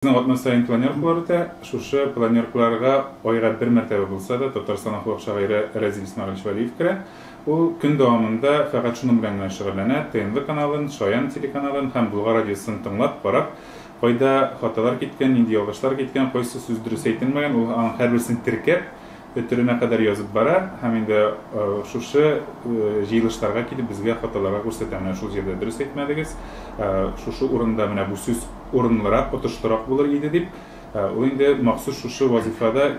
Безнең атна саен планеркалар үтә. Шушы планеркаларга айга бер мәртәбә булса да Татарстан халык шагыйре Рәзил Исмәгыйлевич Вәлиев керә. Ул көн дәвамында фәкать шуның белән генә шөгыльләнә, ТНВ каналын, Шаян телеканалын һәм Болгар радиосын тыңлап, карап, кайда хаталар киткән, нинди ялгышлар киткән, кайсы сүз дөрес әйтелмәгән, ул аның һәрберсен теркәп, Өтеренә кадәр язып бара һәм инде шушы җыелышларга килеп безгә фотоларга күрсәтә, менә шул җирдә дөрес әйтмәдегез, шушы урында менә бу сүз урынлырак, отышлырак булыр иде дип, ул инде махсус шушы вазыйфада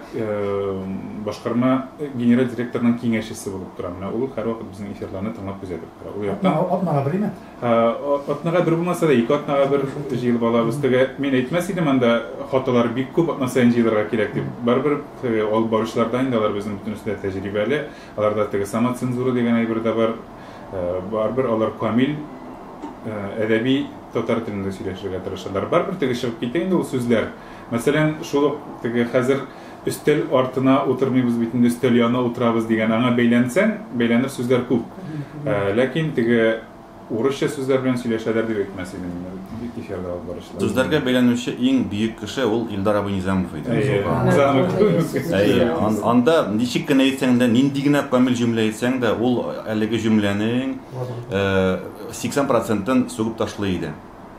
башкарма генераль директорның киңәшчесе булып тора, менә ул һәрвакыт безнең эфирларны тыңлап күзәтеп тора, ул яктан. Атнага бер генә? Атнага бер булмаса да, ике атнага бер җыелып алабыз. Теге мин әйтмәс идем анда хаталар бик күп, атна саен җыелырга кирәк дип. Барыбер теге алып баручылар да инде алар безнең бөтенесе дә тәҗрибәле. Аларда теге самоцензура дигән әйбер дә бар. Барыбер алар камил әдәби татар телендә сөйләшергә тырышалар. Барыбер теге чыгып китә инде ул сүзләр. Мәсәлән, шул ук теге хәзер Өстәл артына утырмыйбыз бит инде, өстәл янына утырабыз дигән, аңа бәйләнсәң, бәйләнер сүзләр күп. Ә, ләкин теге урысча сүзләр белән сөйләшәләр дип әйтмәс идем мин ул эфирда алып баручылар. Сүзләргә бәйләнүче иң бөек кеше ул Илдар абый Низамов иде. Әйе, Низамов. Әйе, анда ничек кенә әйтсәң дә, нинди генә камил җөмлә әйтсәң дә, ул әлеге җөмләнең 80 процентын сугып ташлый иде.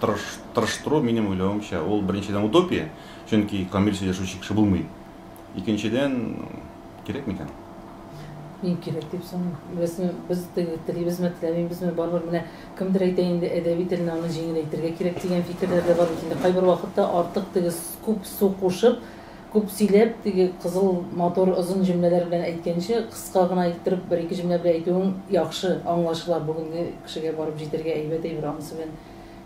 тырыш, тырыштыру, минем уйлавымча, ул, беренчедән, утопия, чөнки камил сөйләшүче кеше булмый. Икенчедән, кирәк микән? Мин кирәк дип саныйм. Беләсеңме, без теге, телибезме, теләмибезме, барыбер менә кемдер әйтә инде, әдәби телне аның җиңеләйтергә кирәк дигән фикерләр дә бар бит инде, кайбер вакытта артык теге күп су кушып, Күп сөйләп, теге кызыл матур озын җөмләләр белән әйткәнче, кыска гына иттереп бер-ике җөмлә белән әйтүең яхшы, аңлашыла, бүгенге кешегә барып җитәргә әйбәт әйбер, анысы белән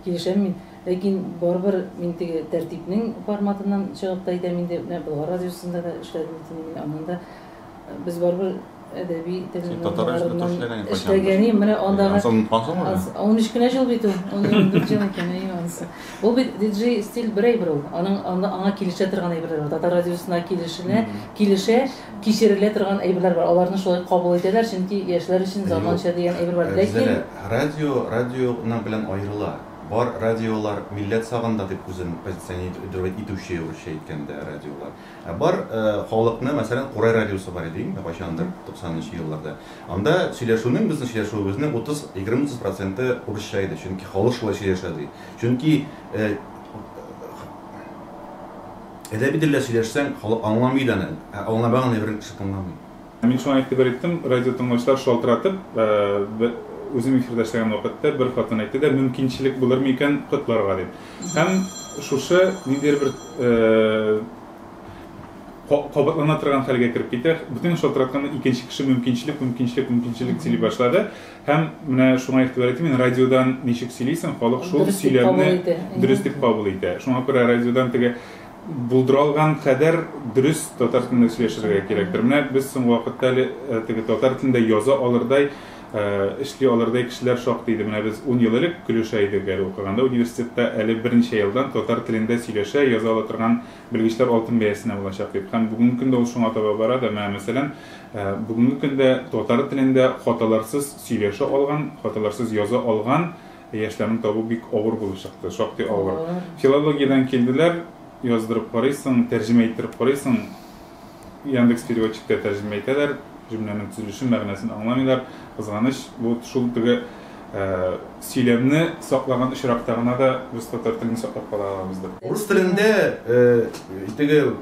килешәм мин. Ләкин барыбер мин теге тәртипнең форматыннан чыгып та әйтәм инде, менә Болгар радиосында да эшләдем бит инде мин, аннан да. Без барыбер әдәби телнең аңларыннан эшләгәнем, менә андагы... Ансын онытпансың ул? 13 кенә җыл бит ул, 14 җыл икән, әйе, анысы. Ул бит диджей стиль бер әйбер ул. Аның анда аңа килешә торган әйберләр бар. Татар радиосына килешенә, килешә, кичерелә торган әйберләр бар. Аларны шулай кабул итәләр, чөнки яшьләр өчен заманча дигән әйбер бар. Ләкин... Радио, радионың белән аерыла. Бар радиолар милләт сагында дип үзен позиционировать итүче, урысча әйткәндә, радиолар. Ә бар халыкны, мәсәлән, Курай радиосы бар иде инде кайчандыр, 90 нчы елларда. Анда сөйләшүнең, безнең сөйләшүебезнең 30, 20-30 проценты урысча иде, чөнки халык шулай сөйләшә ди. Чөнки әдәби телдә сөйләшсәң, халык аңламый иде аны, ә аңламаган әйберне кеше тыңламый. Мин шуңа игътибар иттем, радиотыңлаучылар шалтыратып, үзем эфирда эшләгән вакытта бер хатын әйтте дә, мөмкинчелек булырмы икән котларга дип. Һәм шушы ниндидер бер кабатлана торган хәлгә кереп китә. Бүтән шалтыратканда икенче кеше мөмкинчелек, мөмкинчелек, мөмкинчелек сөйли башлады. Һәм менә шуңа игътибар итте, мин радиодан ничек сөйлисең, халык шул сөйләмне дөрес дип кабул итә. Шуңа күрә радиодан теге Булдыралган кадәр дөрес татар телендә сөйләшергә кирәктер. Менә без соңгы вакытта әле теге татар телендә яза алырдай, эшли алырдай кешеләр шактый иде. Менә без ун ел элек көлешә идек әле укыганда университетта, әле берничә елдан татар телендә сөйләшә, яза ала торган белгечләр алтын бәясенә булачак дип. Һәм бүгенге көндә ул шуңа таба бара да. Менә, мәсәлән, бүгенге көндә татар телендә хаталарсыз сөйләшә алган, хаталарсыз яза алган Ә яшьләрне табу бик авыр булып чыкты, шактый авыр. Авыр. Филологиядән килделәр, яздырып карыйсың, тәрҗемә иттереп карыйсың, Яндекс Переводчикта тәрҗемә итәләр, җөмләнең төзелешен, мәгънәсен аңламыйлар. Кызганыч, бу шул теге сөйләмне саклаган очракта гына да без татар телен саклап кала алабыздыр. Урыс телендә теге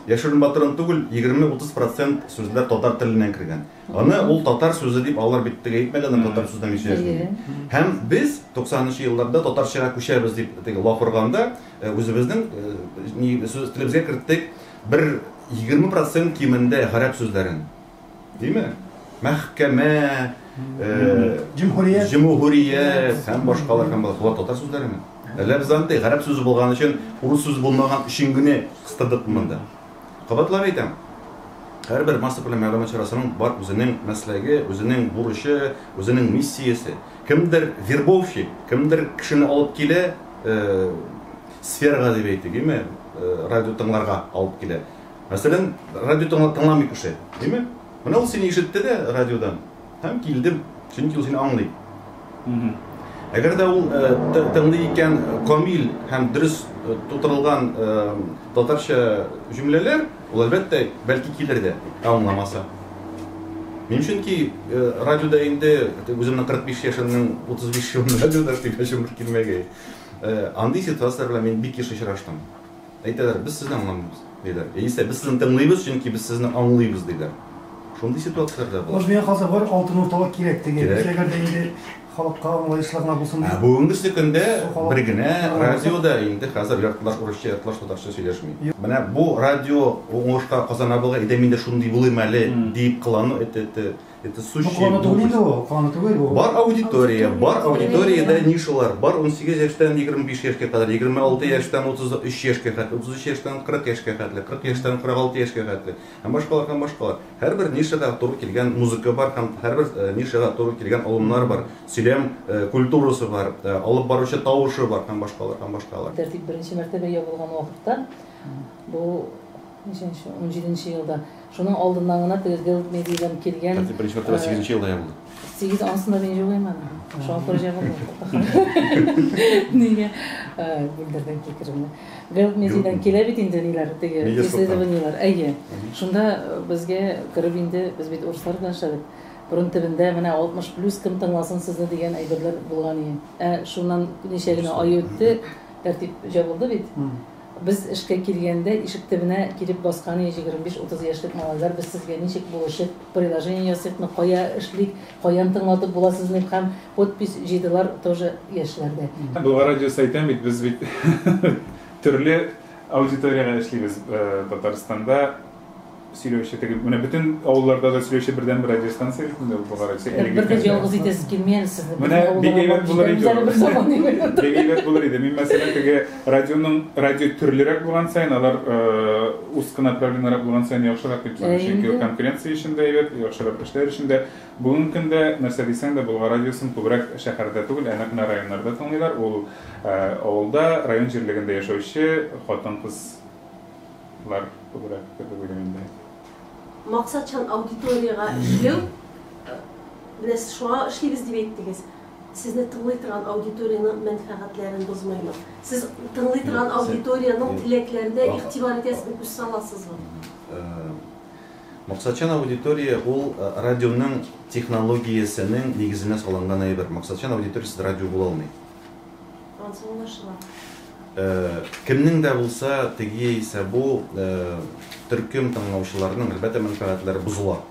яшерен-батырын түгел, егерме-утыз процент сүзләр татар теленнән кергән. Аны ул татар сүзе дип алар бит теге әйтмәде аны татар сүзенә мин сөйләшмим дип. Һәм без 90 нчы елларда татарчага күчәбез дип теге лаф органда үзебезнең сүз телебезгә керттек бер 20 процент кимендә гарәп сүзләрен. Диме? Мәхкәмә, җөмһүрият, җөмһүрият һәм башкалар һәм башкалар татар сүзләреме? Әллә без андый гарәп сүзе булган өчен урыс сүзе булмаган өчен генә кыстырдыкмы монда? Кабатлап әйтәм, һәрбер массакүләм мәгълүмат чарасының бар үзенең мәсләге, үзенең бурычы, үзенең миссиясе. Кемдер вербовщик, кемдер кешене алып килә, сферага дип әйтик, име, радио тыңларга алып килә. Мәсәлән, радио тыңламый кеше, име? Менә ул сине ишетте дә радиодан. Һәм килдем, чөнки ул сине аңлый. Әгәр дә ул тыңлый икән камил һәм дөрес тутырылган татарча җөмләләр, ул әлбәттә бәлки килер дә, ә аңламаса. Мин чөнки радиода инде үземнең 45 яшемнең 35 елын радиода сөйләшүем бер килмәгәе. Андый ситуацияләр белән мин бик еш очраштым. Әйтәләр, без сезне аңламыйбыз, диләр. Яисә без сезне тыңлыйбыз, чөнки без сезне аңлыйбыз, диләр. Шундый ситуацияләр дә бар. Хәзер миңа калса бер алтын урталык кирәк теге. Кирәк. Әгәр дә инде халыкка аңлаешлы гына булсын Ә дип. бүгенгесе көндә бер генә радио да инде хәзер яртылаш урысча, яртылаш татарча сөйләшми. Менә бу радио уңышка Казан абыйга әйдә мин дә шундый булыйм әле, диеп кылану эте эте. Это сущий Бу куллану түгел инде ул, куллану түгел бу. Бар аудитория, бар аудиториядә нишалар, бар 18 яшьтән 25 яшькә кадәр, 26 яшьтән 33 яшькә хәтле, 33 яшьтән 40 яшькә хәтле, 40 яшьтән 46 яшькә хәтле һәм башкалар һәм башкалар. Һәрбер нишага туры килгән музыка бар һәм һәрбер э, нишага туры килгән алымнар бар, сөйләм э, культурасы бар, э, алып баручы тавышы бар һәм башкалар һәм башкалар. Тәртип беренче мәртәбә ябылган вакытта бу Ничәнче, унҗиденче елда. Шуның алдыннан гына тегергә үтми дигән килгән. Хәзер беренче мәртәбә сигезенче елда ябылды. Сигез ансында мин җугыйм аны. Шуңа күрә җабылды. Нигә Гөлдердән кикеремне. Гелд медиядән килә бит инде ниләр теге исследованиеләр. Әйе. Шунда безгә кереп инде без бит урыслар белән эшләдек. Борын төбендә менә 60 плюс кем тыңласын сезне дигән әйберләр булган иде. Ә шуннан ничә генә ай үтте, тәртип җабылды бит. Без эшкә килгәндә, ишек төбенә килеп баскан иде җигерме биш, утыз яшьлек малайлар, без сезгә ничек булышыйк, приложение ясыйкмы, кая эшлик, каян тыңлатып була сезне дип һәм подпись җыйдылар тоже яшьләр дә. Дуга радио сайтын бит без бит төрле аудиториягә эшлибез Татарстанда. Сөйләүче теге, менә бөтен авылларда да сөйләүче бердәнбер радиостанция бит инде ул Богарык. Бер дә ялгыз итәсе килми әле сезне. Менә бик әйбәт булыр иде. Бик әйбәт булыр иде. Мин мәсәлән теге радионың радио төрлерәк булган саен, алар узкы направлениерәк булган саен яхшырак дип саныйм. Чөнки ул конкуренция өчен дә әйбәт, яхшырак эшләр өчен дә. Бүгенге көндә нәрсә дисәң дә, Болгар радиосын күбрәк шәһәрдә түгел, ә нәкъ менә районнарда тыңлыйлар. Ул авылда, район җирлегендә яшәүче хатын-кыз Лар күбрәк кебек уйлыйм инде. Максатчан аудиториягә эшләү, менә сез шуңа эшлибез дип әйттегез, сезне тыңлый торган аудиториянең мәнфәгатьләрен бозмыймы? Сез тыңлый торган аудиториянең теләкләренә игътибар итәсезме, күз саласызмы? Максатчан аудитория ул радионың технологиясенең нигезенә салынган әйбер. Максатчан аудиториясез радио була алмый. Ансы аңлашыла. Кемнең дә булса, теге яисә бу төркем тыңлаучыларының, әлбәттә, мәнфәгатьләре бозыла.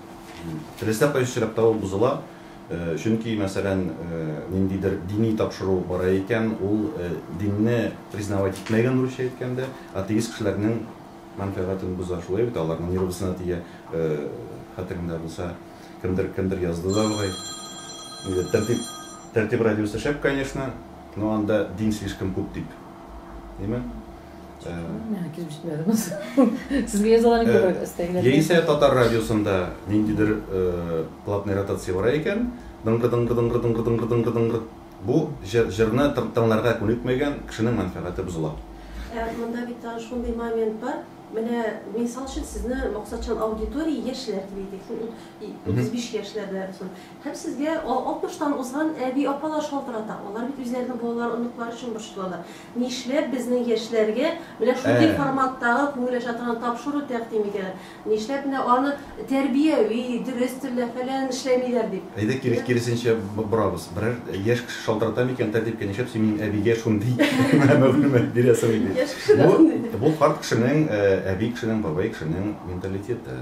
Теләсә кайсы очракта ул бозыла, чөнки, мәсәлән, ниндидер дини тапшыру бара икән, ул динне признавать итмәгән, русча әйткәндә, атеист кешеләрнең мәнфәгатен боза, шулай бит, аларның нервысына тия, хәтереңдә булса. Кемдер, кемдер язды да болай. Инде тәртип, тәртип радиосы шәп, конечно, но анда дин слишком күп дип. Димме? Миңа килеп җитмәде бу. Сезгә язаларын күбрәк өстәгеләр. Яисә татар радиосында ниндидер платный ротация бара икән, дыңгы-дыңгы-дыңгы-дыңгы-дыңгы-дыңгы-дыңгы. Бу җырны тыңларга күнекмәгән кешенең мәнфәгате бозыла. Ә монда бит тагын шундый момент бар. Менә мисал өчен сезне максатчан аудитория яшьләр дип әйтик, сез ут, и, утыз биш яшьләрдә соң. Һәм сезгә а, алтмыштан узган әби, апалар шалтырата. Алар бит үзләренең балалары, оныклары өчен борчылалар. Нишләп безнең яшьләргә менә шундый Ә. форматтагы күңел ача торган тапшыру тәкъдим итәләр? Нишләп менә аны тәрбияви, дөрес телдә фәлән эшләмиләр дип. Әйдә кире, киресенчә борабыз. Берәр яшь кеше шалтырата микән тәртипкә, нишләп син минем әбигә шундый мәгълүмат бирәсең ди. Яшь кеше дә андый ди. Бу карт кешенең, әби кешенең, бабай кешенең менталитеты.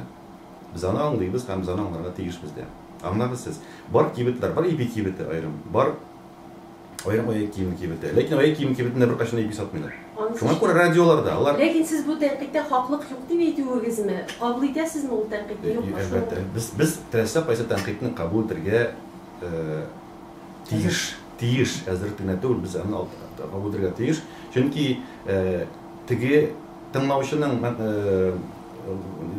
Без аны аңлыйбыз һәм без аны аңларга тиешбез дә. Аңлагыз сез. Бар кибетләр, бар ипи кибете аерым, бар. Аерым аяк киеме кибете. Ләкин аяк киеме кибетендә беркайчан да ипи сатмыйлар. Шуңа күрә радиолар да, алар. Ләкин сез бу тәнкыйтьтә хаклык юк дип әйтүегезме? Кабул итәсезме ул тәнкыйтьне, юкмы? Әлбәттә. Без, без теләсә кайсы тәнкыйтьне кабул итәргә тиеш. Тиеш. Әзер генә түгел, без аны кабул итәргә тиеш. Чөнки теге тыңлаучының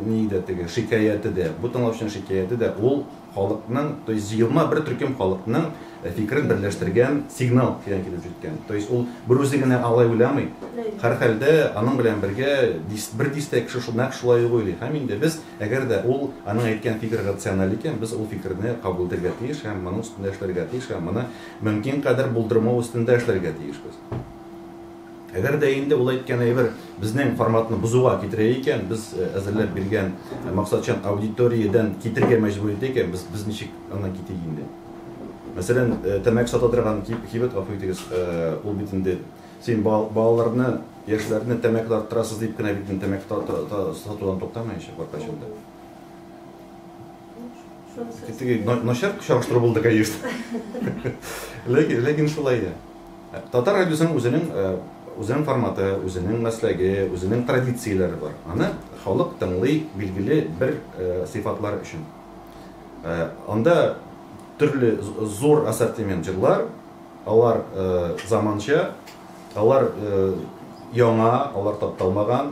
ни иде теге шикаяте дә, бу тыңлаучының шикаяте дә, ул Халыкның, то есть җыелма бер төркем халыкның фикерен берләштергән сигнал тирән килеп җиткән. То есть ул бер үзе генә алай уйламый. Һәрхәлдә, аның белән бергә дис, бер дистә кеше шул, нәкъ шулай ук уйлый. Һәм инде без, әгәр дә ул, аның әйткән фикере рациональ икән, без ул фикерне кабул итәргә тиеш һәм моның өстендә эшләргә тиеш һәм моны мөмкин кадәр булдырмау өстендә эшләргә тиешбез. Әгәр дә инде ул әйткән әйбер безнең форматны бозуга китерә икән, без әзерләп биргән максатчан аудиториядән китергә мәҗбүр итә икән, без, без ничек аннан китик инде? Мәсәлән, тәмәке сата торган кибет, гафу итегез, ул бит инде, син балаларны, яшьләрне тәмәке тарттырасыз дип кенә бит инде тәмәке сатудан туктамаячак беркайчан да. Теге начар чагыштыру булды, конечно. Ләкин, ләкин шулай да. Татар радиосының үзенең үзенең форматы, үзенең мәсләге, үзенең традицияләре бар. Аны халык тыңлый билгеле бер сыйфатлар өчен. Анда төрле зур ассортимент җырлар, алар заманча, алар яңа, алар тапталмаган,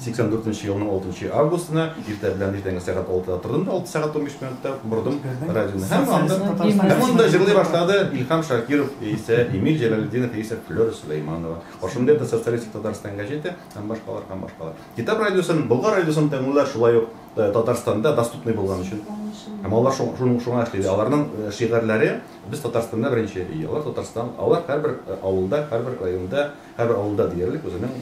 84 нче елның 6 нчы августына иртә белән иртәнге сәгать алтыда тордым да алты сәгать унбиш минутта бордым радионы һәм анда һәм анда җырлый башлады илһам шакиров яисә эмиль җәләлетдинов яисә флера сөләйманова ошонда это социалистик татарстан газеты һәм башкалар һәм башкалар китап радиосын болгар радиосын тыңлыйлар шулай ук э, татарстанда доступный булган өчен һәм алар шуның шуңа эшли аларның э, шигырьләре без татарстанда беренче алар татарстан алар һәрбер э, авылда һәрбер районда Һәр авылда диярлек үзенең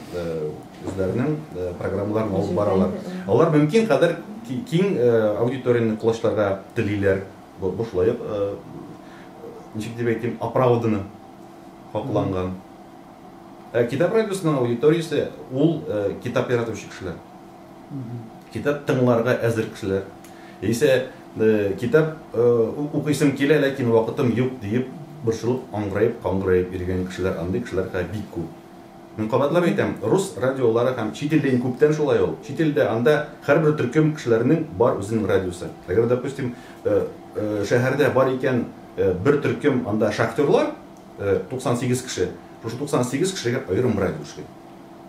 үзләренең программаларын алып баралар. Алар мөмкин кадәр киң аудиторияне колачларга телиләр. Бу бушлай ничек дип әйтим, оправданно хакланган. Ә китап радиосының аудиториясе ул китап яратучы кешеләр. Китап тыңларга әзер кешеләр, яисә китап укыйсым килә, ләкин вакытым юк, диеп борчылып аңгыраеп-каңгыраеп йөргән кешеләр, андый кешеләр хәзер бик күп. Мин кабатлап әйтәм, рус радиолары һәм чит илдә иң күптән шулай ул. Чит илдә, анда һәрбер төркем кешеләренең бар үзенең радиосы. Әгәр, допустим, шәһәрдә бар икән бер төркем, анда шахтерлар, 98 кеше, шушы 98 кешегә аерым радио эшли.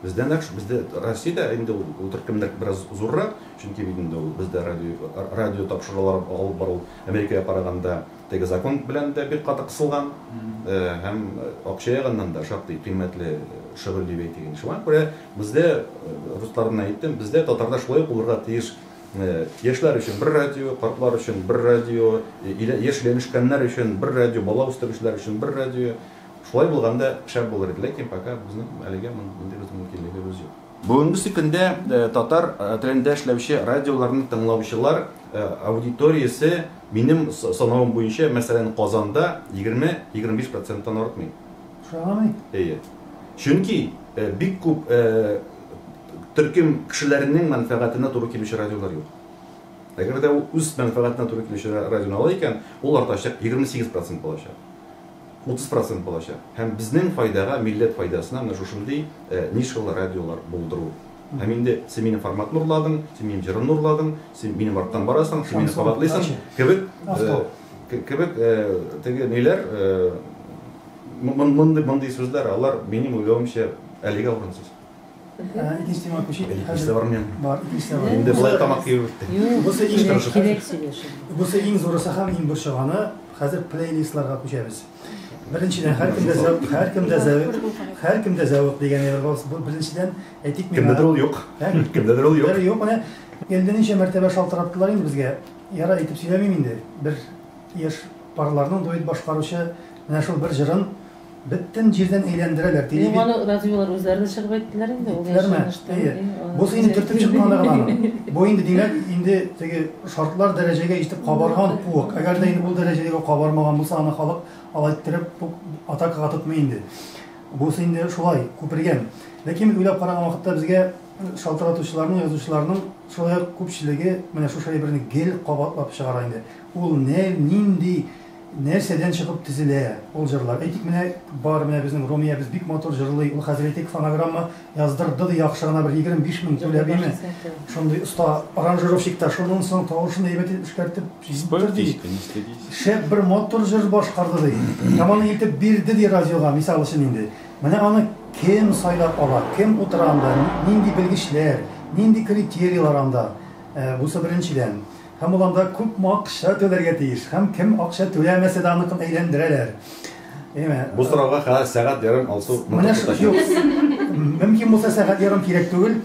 Бездә нәкъ шул, бездә Россиядә инде ул төркемнәр бераз зуррак, чөнки бит инде ул бездә радио, радио тапшырулар алып бару Америкага караганда теге закон белән дә бик каты кысылган, һәм акча ягыннан да шактый кыйммәтле шөгыль дип әйтик инде. Шуңа күрә бездә, руслар белән әйттем, бездә татарда шулай ук булырга тиеш, яшьләр өчен бер радио, картлар өчен бер радио, яшь өйләнешкәннәр өчен бер радио, бала үстерүчеләр өчен бер радио, Шулай булганда шәп булыр иде, ләкин пока безнең әлегә мондый бер мөмкинлегебез юк. Бүгенге көндә татар телендә эшләүче радиоларны тыңлаучылар аудиториясе, минем санавым буенча, мәсәлән, Казанда 20-25 проценттан артмый. Шуңамы? Әйе. Чөнки бик күп төркем кешеләренең мәнфәгатенә туры килүче радиолар юк. Әгәр дә ул үз мәнфәгатенә туры килүче радионы ала икән, ул артачак, 28 процент булачак. 30 процент булачак. Һәм безнең файдага, милләт файдасына менә шушындый нишалы радиолар булдыру. Һәм инде син минем форматны урладың, син минем җырымны урладың, син минем арттан барасың, син мине кабатлыйсың кебек кебек теге ниләр мондый мондый сүзләр алар минем уйлавымча әлегә урынсыз. Инде болай тамак кибертте. Бусы иш тырышы. Бусы иң зурысы һәм иң борчаганы. Хәзер плейлистларга күчәбез. Беренчедән һәркемдә зәвык, һәркемдә зәвык, һәркемдә зәвык дигән әйбер бар. Бу беренчедән әйтик мин. Кемдәдер ул юк. Кемдәдер ул юк. Юк менә. Инде ничә мәртәбә шалтыраттылар инде безгә. Яра әйтеп сөйләмим инде. Бер яшь парларның дуэт башкаручы менә шул бер җырын Бөтен җирдән әйләндерәләр, телевид- Юк, аны разве алар үзләре дә чыгып әйттеләр инде, ул Әйттеләрме? яшәгән эштән, Әйе. әйе, алар Бу сине төртеп үзләре- чыккан гына гына. Бу инде, димәк, инде теге шартлар дәрәҗәгә җитеп кабарган куык. Әгәр дә инде ул дәрәҗәгә кабармаган булса, аны халык алай иттереп үк атакага тотмый инде. Бусы инде шулай, күпергән. Ләкин без уйлап караган вакытта безгә шалтыратучыларның, язучыларның шулай ук күпчелеге менә шушы әйберне гел кабатлап чыгара инде. Ул нәй, нинди Нәрсәдән чыгып төзелә ул җырлар? Әйтик, менә бар, менә безнең Румиябез бик матур җырлый, ул хәзер, әйтик, фонограмма яздырды ди, яхшы гына бер 25 мең түләп, име, шундый оста аранжировщик та, шуннан соң тавышын әйбәт итеп эшкәртеп җибәрде ди, шәп бер матур җыр башкарды ди, һәм аны илтеп бирде ди радиога, мисал өчен инде. Менә аны кем сайлап ала, кем утыра анда, нинди белгечләр, нинди критерийлар анда, бусы беренчедән. Һәм ул анда күпме акча түләргә тиеш? Һәм кем акча түләмәсә дә аныкын әйләндерәләр? Әйме? Бу сорауга хәзер сәгать ярым алсу Менә шу, юк, мөмкин булса сәгать ярым кирәк түгел,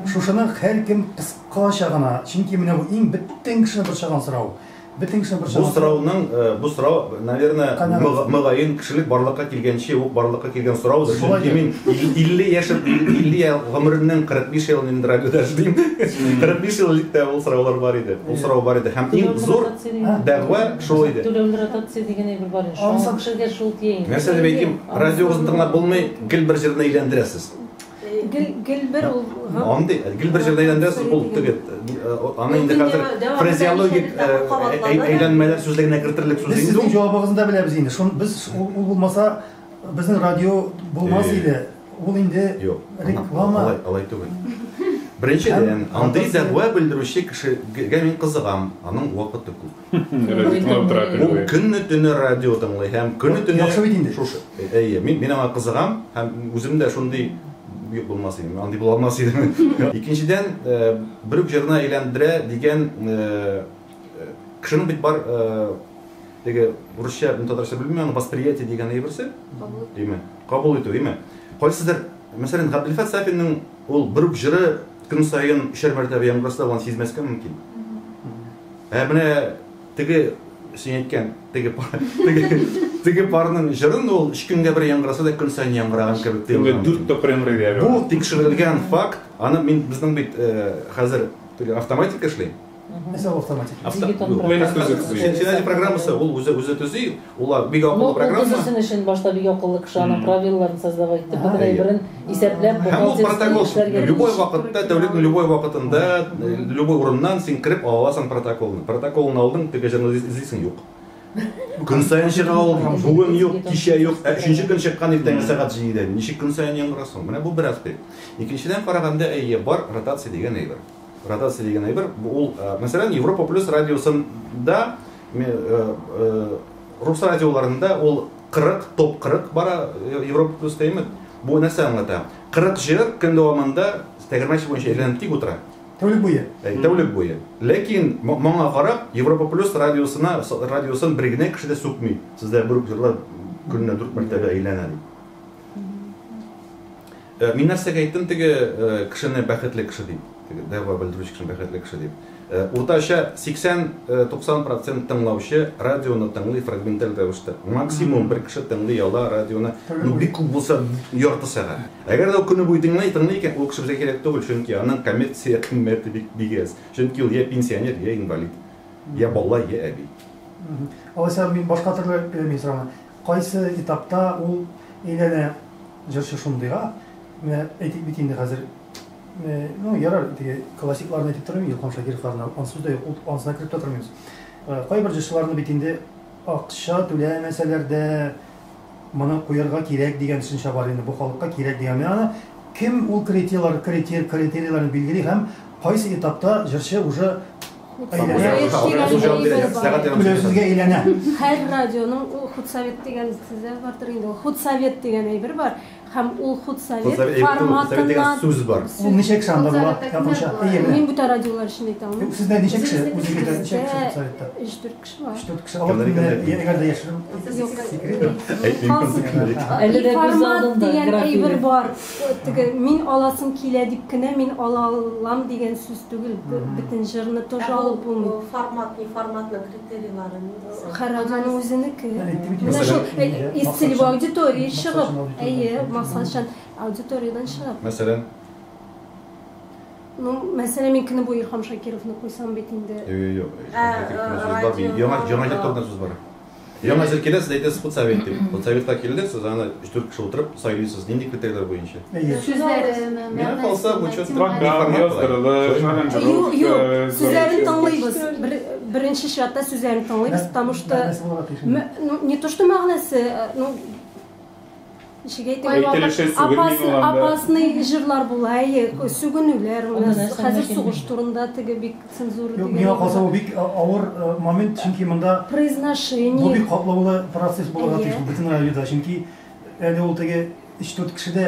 шушыны һәркем кыскача гына, чөнки менә бу иң бөтен кешене борчыган сорау, бөтен кешене борчыган сорау. Бу сорауның, бу сорау, Наверное, мөгаен, кешелек барлыкка килгәнче үк барлыкка килгән сораудыр. Чөнки мин 50 яшем, 50 ел гомеремнең 45 елын инде радиода эшлим. 45 ел элек тә ул сораулар бар иде. Ул сорау бар иде. Һәм иң зур дәгъва шул иде. Түләүле ротация дигән әйбер бар иде. Шуңа кешегә шул тия инде. Нәрсә дип әйтим, радиогызны тыңлап булмый, гел бер җырны әйләндерәсез. Гел, гел бер ул. Андый, гел бер җирдә әйләндерәсез, ул теге, аны инде хәзер фразеологик әйләнмәләр сүзлегенә кертерлек сүз инде. Сезнең җавабыгызны да беләбез инде. Шун без ул булмаса, безнең радио булмас иде. Ул инде реклама. Алай, алай түгел. Беренчедән, андый дәгъва белдерүче кешегә мин кызыгам, аның вакыты күп. Ул көнне төне радио тыңлый һәм көне төне Яхшы бит инде. Шушы. Әйе, мин мин аңа кызыгам һәм үзем дә шундый юк булмас идем, андый була алмас идем. Икенчедән, бер үк җырына әйләндерә дигән кешенең бит бар теге урысча, татарча белмим, аны восприятие дигән әйберсе. Кабул. Димме? Кабул итү, димме? Кайсыдыр, мәсәлән, Габделфәт Сафинның Ул бер үк җыры көн саен өчәр мәртәбә яңгыраса, ул аны сизмәскә мөмкин. Ә менә теге, син әйткән, теге пар, теге, теге парның җырын ул өч көнгә бер яңгыраса да, көн саен яңгыраган кебек тоелырга Көнгә мөмкин. дүрт тапкыр яңгырый дияр. Бу тикшерелгән факт. Аны мин, безнең бит э, хәзер теге автоматика эшли. Нәрсә ул автоматик? Дигитон Юк, программа. Менеджер төзү. Сен- Сенәҗи программасы ул үзе үзе төзи, ул бик акыллы Ноутбук программа. төзүсен өчен башта бик акыллы кеше аның правилаларын создавать итеп, Ага. бөтен әйберен исәпләп, Һәм ул бухгалтерский протокол эшләргә любой вакытта, тәүлекнең любой вакытында, э, любой урыннан син кереп ала аласың протоколны. Протоколны алдың, теге җырны эз- эзлисең юк. Көн саен чыга ул, бүген юк, кичә юк, ә өченче көн чыккан иртәнге сәгать 7-дә. Ничек көн саен яңгырасың? Менә бу бер аспект. Икенчедән караганда, әйе, бар ротация дигән әйбер. Ротация дигән әйбер, ул, мәсәлән, Европа плюс радиосында, рус радиоларында ул 40, топ 40 бара, Европа плюс тәйме. Бу нәрсә аңлата? 40 җыр көн дәвамында тәгәрмәч буенча әйләнеп тик утыра. Тәүлек буе. Тәүлек буе. Ләкин моңа карап, Европа плюс радиосына, радиосын бер генә кеше дә сүкми. Сездә бер җырлар көненә 4 мәртәбә әйләнә. Ә мин нәрсәгә әйттем теге кешене бәхетле кеше дип? Теге дәгъва белдерүче кешене бәхетле кеше дип? Уртача 80-90 процент тыңлаучы радионы тыңлый фрагменталь рәвештә. Максимум бер кеше тыңлый ала радионы, ну бик күп булса ярты сәгать. Әгәр дә ул көне буе тыңлый, тыңлый икән, ул кеше безгә кирәк түгел, чөнки аның коммерция кыйммәте бик бик әз. Чөнки ул йә пенсионер, йә инвалид, йә бала, йә әби. Алайса мин башка төрле мин сорама. Кайсы этапта ул әйләнә җырчы шундыйга, менә әйтик бит инде хәзер, ну, ярар, теге классикларны әйтеп тормыйм, Илһам Шакировларны, аны сүз дә юк, ул анысына кереп тә тормыйбыз. Кайбер җырчыларны бит инде акча түләмәсәләр дә, моны куярга кирәк дигән төшенчә бар инде, бу халыкка кирәк дигән. Менә аны кем ул критерийлар, критерийларны билгели һәм кайсы этапта җырчы уже Түләүсезгә әйләнә. Һәр радионың ул худсовет дигән сездә бардыр инде. Ул худсовет дигән әйбер бар һәм ул худсовет форматыннан сүз бар. Ул ничек санда була? Мин бүтән радиолар өчен әйтә алмыйм. Сездә ничек кеше? Үзегездә ничек кеше советта? Информат дигән әйбер бар. Теге мин аласым килә дип кенә мин ала алам дигән сүз түгел. Бөтен җырны тоже алып булмый. Формат, информатның критерийлары нинди? Караганның үзенеке. Менә шул из целевой аудитории чыгып, әйе, максатчан аудиториядән чыгып. Мәсәлән, Ну, мәсәлән, мин көне буе Илһам Шакировны куйсам бит инде. Юк, юк. Ә, радио. Яңа яңа җитәрлек сүз бар. Яңа җыр килә, сез әйтәсез худсовет дип. Худсоветка килдек, сез аны 3-4 кеше утырып сайлыйсыз, нинди критерийлар буенча. Сүзләрен, Миңа калса, бу чат программа яздырылып, Юк, юк. Сүзләрен тыңлыйбыз. Беренче чиратта сүзләрен тыңлыйбыз, потому что ну, не то что мәгънәсе, ну, Апасный җырлар була, әйе, сүгенүләр у нас. Хәзер сугыш турында теге бик цензура дигән. Юк, миңа калса бу бик авыр момент, чөнки монда. Произношение. Бу бик катлаулы процесс булырга тиеш бөтен радиода, чөнки әле ул теге өч-дүрт кешедә.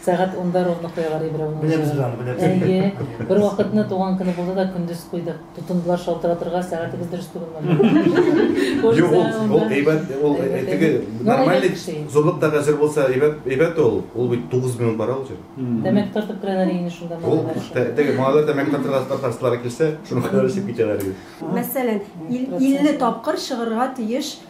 Сәгать унда ровно куялар Ибрәүнең җырын. Беләбез барын, беләбез. Әйе. Бервакытны туган көне булды да, көндез куйдык. Тотындылар шалтыратырга, сәгатебез дөрес түгелме бу? Юк, ул, ул әйбәт, ул теге нормальный зурлык та әзер булса, әйбәт, әйбәт ул. Ул бит тугыз минут бара ул җыр. Тәмәке тартып керәләр инде шунда малайлар өчен. Теге малайлар тәмәке тартырга тартасылары килсә, шуны кадәр эчеп китәләр инде. Мәсәлән, 50 тапкыр чыгарга тиеш.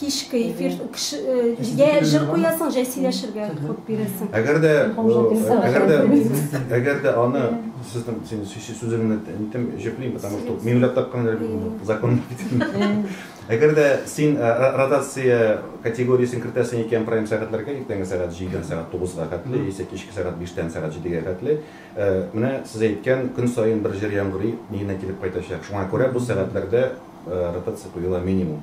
Кичке эфир җә җыр куясың, җә сөйләшергә ход бирәсең. Әгәр дә, әгәр дә, әгәр дә аны сезнең син сүзеңне әйтәм, җөплим, потому что мин уйлап тапкан закон. Әгәр дә син ротация категориясен кертәсең икән прайм сәгатьләргә, иртәнге сәгать 7-дән сәгать 9-га хәтле, яисә кичке сәгать 5-тән сәгать 7-гә хәтле, менә сез әйткән көн саен бер җыр яңгырый, миенә килеп кайтачак. Шуңа күрә бу сәгатьләрдә ротация куела минимум.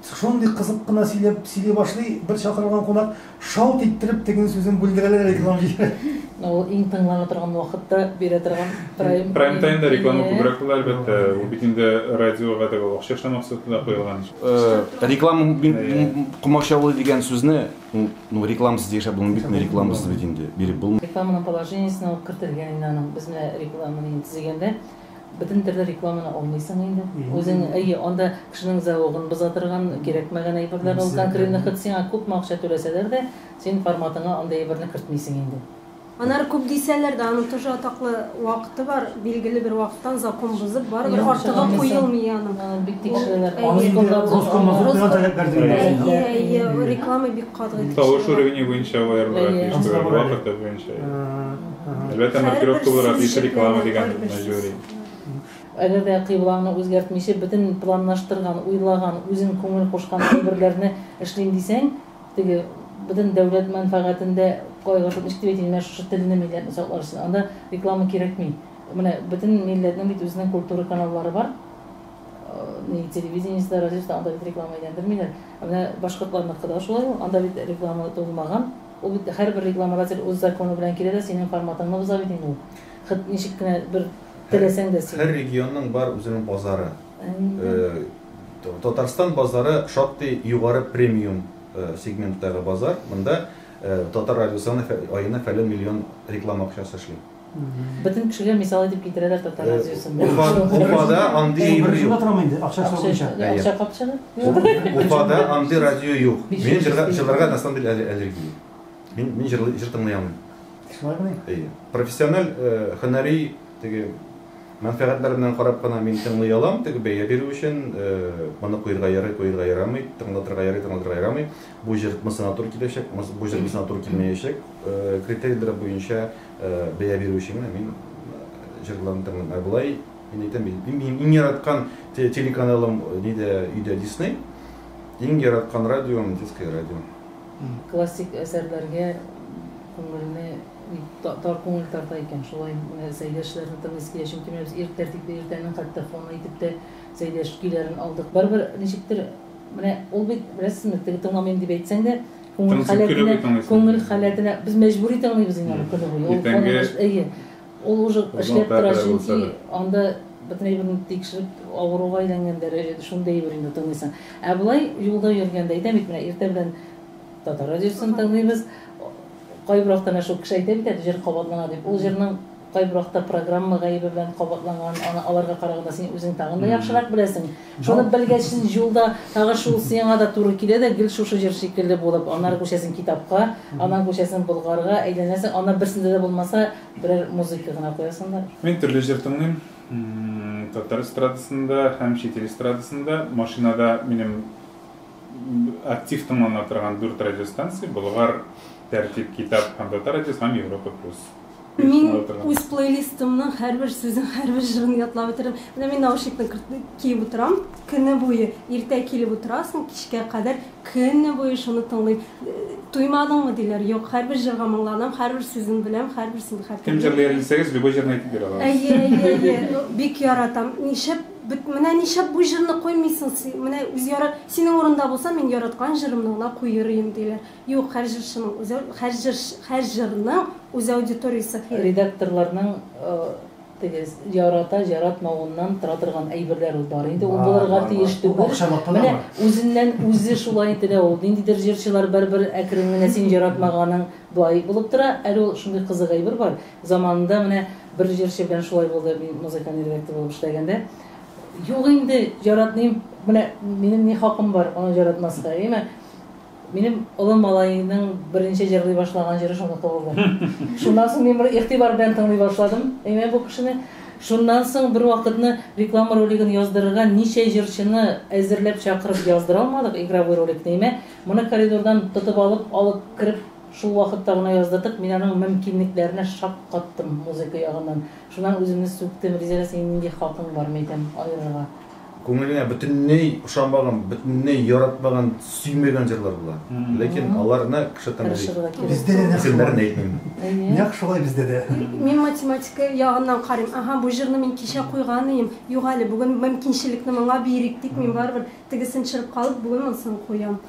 Шундый кызык кына сөйләп сөйли башлый, бер чакырылган кунак шалт иттереп теге сүзен бүлдерәләр реклама җибәрә. Ул иң тыңлана торган вакытта бирә торган прайм. Прайм таймда реклама күбрәк була, әлбәттә. Ул бит инде радиога да ул акча эшләү максаты да куелган. Реклама комачаулый дигән сүзне, ну рекламасыз яшәп булмый бит, рекламасыз бит инде биреп булмый. Рекламаның положениесенә ул кертелгән инде аның. Без менә рекламаны инде төзегәндә, Бөтен төрле рекламаны алмыйсың инде. Үзең, әйе, анда кешенең зәвыгын боза торган, кирәкмәгән әйберләр ул конкретно, хоть сиңа күпме акча түләсәләр дә, син форматыңа андый әйберне кертмисең инде. Аннары күп дисәләр дә, аның тоже атаклы вакыты бар, билгеле бер вакыттан закон бозып, барыбер артыгы куелмый аның. Аны бик тикшерәләр. Роскомнадзор куйган таләпләр дип әйтәләр. Әйе, әйе, реклама бик катгый тикшерелә. Тавыш уровенье буенча аерылырга тиеш, вакыты буенча. Әлбәттә, маркировка буларак еш реклама дигән мәҗбүри. Әгәр дә кыйблаңны үзгәртмичә, бөтен планлаштырган, уйлаган, үзең күңел кушкан әйберләрне эшлим дисәң, теге бөтен дәүләт мәнфәгатендә кайгыртып ничек дип әйтим, менә шушы телне милләтне саклар өчен. Анда реклама кирәкми. Менә бөтен милләтнең бит үзенең культура каналлары бар. Ни телевидениесендә, радиосында анда бит реклама әйләндермиләр. Ә менә башкортларныкы да шулай ул. Анда бит реклама тулмаган. Ул бит һәрбер рекламодатель үз законы белән килә дә синең форматыңны боза бит инде ул. Хет ничек кенә бер теләсәң дә син. Һәр регионның бар үзенең базары. Татарстан базары шактый югары премиум сегменттагы базар. Монда Татар радиосына аена фәлән миллион реклама акчасы эшли. Бөтен кешегә мисал итеп китерәләр татар э, радиосын. Уфада андый әйбер юк. Шунда торам инде, акча сорагыча. Акча капчаны. Уфада андый радио юк. Мин җырларга на самом деле аллергия. Мин мин җыр җыр тыңлый алмыйм. Шулай гына. Әйе. Профессиональ э, һөнәри теге мәнфәгатьләр белән карап кына мин тыңлый алам, теге бәя бирү өчен э, моны куерга ярый, куерга ярамый, тыңлатырга ярый, тыңлатырга ярамый. Бу җыр мысына туры киләчәк, бу җыр мысына туры килмәячәк. Критерийләр буенча бәя бирү өчен генә мин җырларын тыңлыйм. Ә болай, мин әйтәм бит, мин иң яраткан телеканалым нидә өйдә Дисней, иң яраткан радиом Детское радио. Классик әсәрләргә күңелне тар күңел тарта икән, шулай Сәйдәшләрне тыңлыйсы килә, чөнки менә без ир тәртипле иртәнең хәтта фоны итеп тә Сәйдәш көйләрен алдык. Барыбер ничектер менә ул бит, беләсезме, теге тыңламыйм дип әйтсәң дә, Күңел Тынсыз хәле көйләп генә, тыңлыйсың. күңел хәле генә. Без мәҗбүри тыңлыйбыз инде аны көне буе. Ул Иртәнге- каны баш- Әйе. Ул уже Озын эшләп тора, тәртә чөнки булса да. анда бөтен әйберне тикшереп, авыруга әйләнгән дәрәҗәдә шундый әйбер инде тыңлыйсың. Ә болай юлда йөргәндә, әйтәм бит менә, иртә белән Татар радиосын тыңлыйбыз. Кайбер вакыт әнә шул кеше әйтә бит әле, җыр кабатлана дип. Ул җырның Кайбер вакытта программа гаебе белән кабатланган, аны аларга караганда син үзең тагын да яхшырак беләсең. Шуны белгәч, син җулда тагы шул сиңа да туры килә дә, гел шушы җыр шикелле булып, аннары күчәсең китапка, аннан күчәсең Болгарга, әйләнәсең, аннан берсендә дә булмаса, берәр музыка гына куясыңдыр. Мин төрле җыр тыңлыйм. Татар эстрадасын да һәм чит ил эстрадасын да. Машинада минем актив тыңлана торган дүрт радиостанция, Болгар, Тәртип, Китап һәм Татар радиосы һәм Европа плюс. Мин үз плейлистымның һәрбер сүзен, һәрбер җырын ятлап утырам. Менә мин наушникны киеп утырам, көне буе, иртә килеп утырасың, кичкә кадәр көне буе шуны тыңлыйм. Туймадыңмы диләр, юк, һәрбер җырга моңланам, һәрбер сүзен беләм, һәрберсен хәтерлим. Кем җырлый әле дисәгез, любой җырны әйтеп бирә алабыз. Әйе, әйе, әйе, бик яратам. Нишләп, менә нишләп бу җырны куймыйсың син, менә үз ярат, синең урында булсам, мин яраткан җырымны гына куер идем, диләр. Юк, һәр җырчының үз һәр җырчы һәр җырның үз аудиториясе хи. Редакторларның теге ярата, яратмавыннан тора торган әйберләр ул бар инде, ул булырга тиеш түгел. Менә үзеннән үзе шулай ителә ул. Ниндидер җырчылар бер-бер әкрен генә син яратмаганың болай булып тора. Әле ул шундый кызык әйбер бар. Заманында менә бер җырчы белән шулай булды, мин музыкальный редактор булып эшләгәндә. Юк инде, яратмыйм, менә минем ни хакым бар аны яратмаска, әйеме? Минем олым малаеның беренче җырлый башлаган җыры шуныкы булды. Шуннан соң мин моны игътибар белән тыңлый башладым, әйме, бу кешене. Шуннан соң бервакытны реклама ролигын яздырырга ничә җырчыны әзерләп чакырып яздыра алмадык, игровой роликны, әйме, моны коридордан тотып алып, алып кереп, шул вакытта гына яздырдык, мин аның мөмкинлекләренә шаккаттым музыка ягыннан. Шуннан үземне сүктем, Ризәгә, синең нинди хакың бар, мәйтәм, аерырга. Күңелеңә бөтенләй ошамаган, бөтенләй яратмаган, сөймәгән җырлар була. Ләкин аларны кеше тыңлый. Бездә дә нәкъ шулай. Исемнәрен әйтмим. Нәкъ шулай бездә дә. Мин математика ягыннан карыйм. Аһа, бу җырны мин кичә куйган ием. Юк әле, бүген мөмкинчелекне моңа бирик, дип, мин барыбер тегесен чырып калып, бүген монысын куям.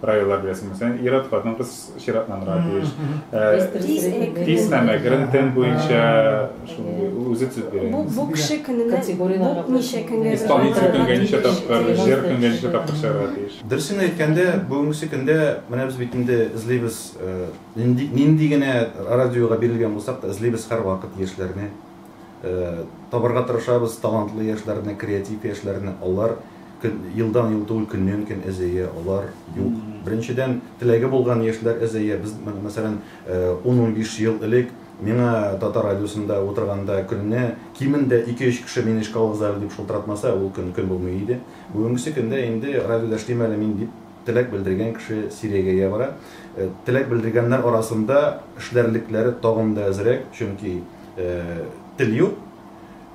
Правилар беләсеңме сен? Ир-ат, хатын-кыз чиратланырга тиеш. Тиз һәм әкрен тен буенча үзе төзеп бирә. Бу бу кеше көненә бу ничә көнгә Исполнитель көнгә ничә тапкыр, җыр көнгә ничә тапкыр чыгарга тиеш. Дөресен әйткәндә, бүгенгесе көндә менә без бит инде эзлибез, нинди генә радиога бирелгән булсак та, эзлибез һәрвакыт яшьләрне. табарга тырышабыз талантлы яшьләрне, креатив яшьләрне. Алар елдан-ел түгел, көннән-көн әзәя, алар юк. Беренчедән, теләге булган яшьләр әзәя. Без, мәсәлән, 10-15 ел элек миңа Татар радиосында утырганда көненә кимендә 2-3 кеше мине Чкалов Зале дип шылтыратмаса, ул көн көн булмый иде. Бүгенгесе көндә инде радиода эшлим әле мин дип Теләк белдергән кеше сирәгәя бара. Теләк белдергәннәр арасында эшләрлекләре тагын да әзрәк, чөнки тел юк,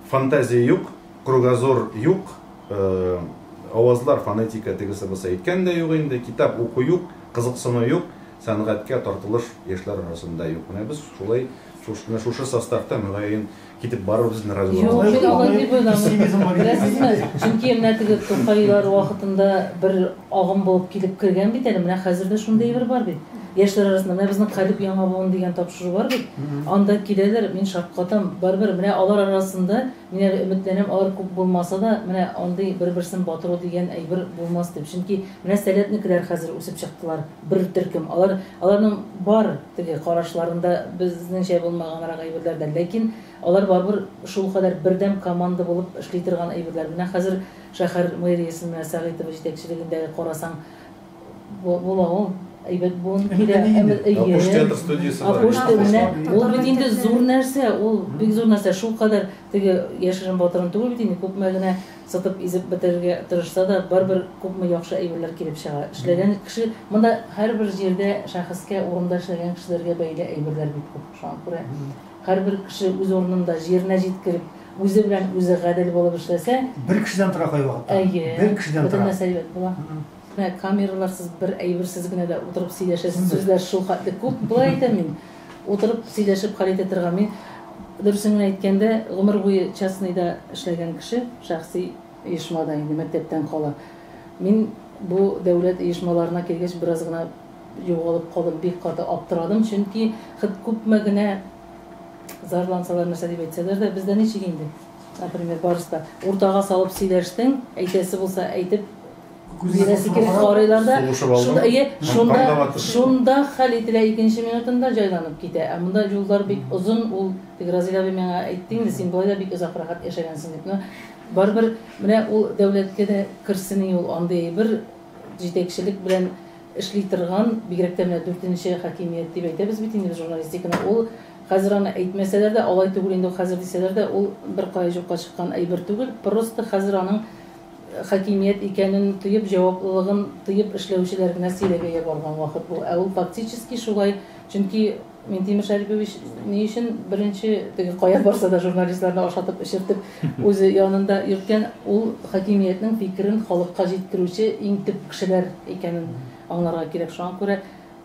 фантазия юк, кругозор юк, авазлар, фонетика тегесе-бусы әйткән дә юк инде, китап уку юк, кызыксыну юк, сәнгатькә тартылыш яшьләр арасында юк. Менә без шулай, менә шушы составта, мөгаен, Китеп барырбыз инде радиога. Юк, мин алай дип уйламыйм. Беләсезме, чөнки менә теге Тукайлар вакытында бер агым булып килеп кергән бит әле, менә хәзер дә шундый әйбер бар бит. Яшьләр арасында менә безнең Карип Яңа буын дигән тапшыру бар бит. Анда киләләр, мин шаккатам. Барыбер менә алар арасында, мин әле өметләнәм, алар күп булмаса да, менә андый бер-берсен батыру дигән әйбер булмас дип. Чөнки менә Сәләтнекеләр хәзер үсеп чыктылар, бер төркем. Алар, аларның бар. Теге карашларында безнеңчә булмаганрак әйберләр дә, ләкин алар барыбер шулкадәр бердәм команда булып эшли торган әйберләр. Менә хәзер шәһәр мэриясен менә Сәгыйтова җитәкчелегендәге карасаң, була ул, әйбәт буын килә. Апуш театр студиясе бар. Апуш театр, менә ул бит инде зур нәрсә, ул бик зур нәрсә. Шулкадәр теге яшерен-батырын түгел бит инде, күпме генә Сытып-изеп бетерергә тырышса да, барыбер күпме яхшы әйберләр килеп чыга. Эшләгән кеше, монда һәрбер җирдә шәхескә, урында эшләгән кешеләргә бәйле әйберләр бик күп. Шуңа күрә һәрбер кеше үз урынында, җиренә җиткереп, үзе белән үзе гадел булып эшләсә. Бер кешедән тора кайвакытта. Әйе. Бер кешедән тора. Бөтен нәрсә әйбәт була. Менә камераларсыз бер әйберсез генә дә утырып сөйләшәсе сүзләр шулхәтле күп, болай әйтәм мин, утырып сөйләшеп хәл итә торган. Мин, дөресен генә әйткәндә, гомер буе частныйда эшләгән кеше, шәхси оешма да инде мәктәптән кала. Мин бу дәүләт оешмаларына килгәч бераз гына югалып калдым, бик каты аптырадым, чөнки хет күпме генә зарлансалар, нәрсә дип әйтсәләр дә, бездә ничек инде, например, барысы да, уртага салып сөйләштең, әйтәсе булса әйтеп Күзенә сикереп карыйлар да, шунда, әйе, шунда, шунда хәл ителә икенче минутында җайланып китә. Ә монда юллар бик озын, ул теге Разил абый миңа әйтте инде, син болай да бик озак рәхәт яшәгәнсең дип. Но барыбер менә ул дәүләткә дә керсени ул андый әйбер җитәкчелек белән эшли торган, бигрәк тә менә дүртенче хакимият дип әйтәбез бит инде без журналистиканы. Ул хәзер аны әйтмәсәләр дә, алай түгел инде ул хәзер дисәләр дә, ул беркая юкка чыккан әйбер түгел. Просто хәзер аның хакимият икәнен тоеп, җаваплылыгын тоеп эшләүчеләр генә сөйләгәе барган вакыт бу. Ә ул фактически шулай, чөнки Минтимер Шәрипович ни өчен беренче теге кая барса да журналистларны ашатып эчертеп үзе янында йөрткән, ул хакимиятнең фикерен халыкка җиткерүче иң төп кешеләр икәнен аңларга кирәк. Шуңа күрә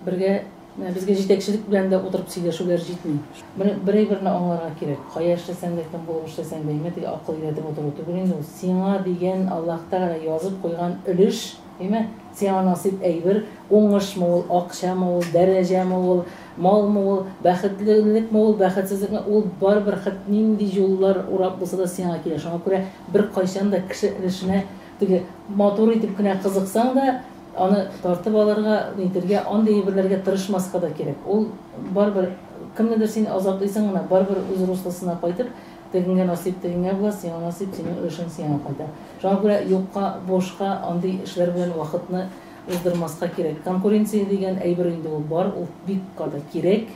бергә. Безгә җитәкчелек белән дә утырып сөйләшүләр җитми. Бер, берәйберне аңларга кирәк. Кая эшләсәң дә, кем булып эшләсәң дә, әйме, теге акыл өйрәтеп утыру түгел инде ул. Сиңа дигән Аллаһ Тәгалә язып куйган өлеш, әйме, сиңа насыйп әйбер, уңышмы ул, акчамы ул, дәрәҗәме ул, малмы ул, бәхетлелекме ул, бәхетсезлекме, ул барыбер хет нинди юллар урап булса да сиңа килә. Шуңа күрә беркайчан да кеше өлешенә Теге матур итеп кенә кызыксаң да, аны тартып алырга, нитергә, андый әйберләргә тырышмаска да кирәк. Ул барыбер, кемнедер син азаплыйсың гына, барыбер үз руслысына кайтып, тегеңә насыйп тегеңә була, сиңа насыйп синең өлешең сиңа кайта. Шуңа күрә юкка, бушка андый эшләр белән вакытны уздырмаска кирәк. Конкуренция дигән әйбер инде ул бар, ул бик каты кирәк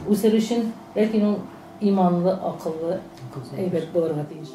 үсер өчен, ләкин ул Иманлы, акыллы, әйбәт булырга тиеш.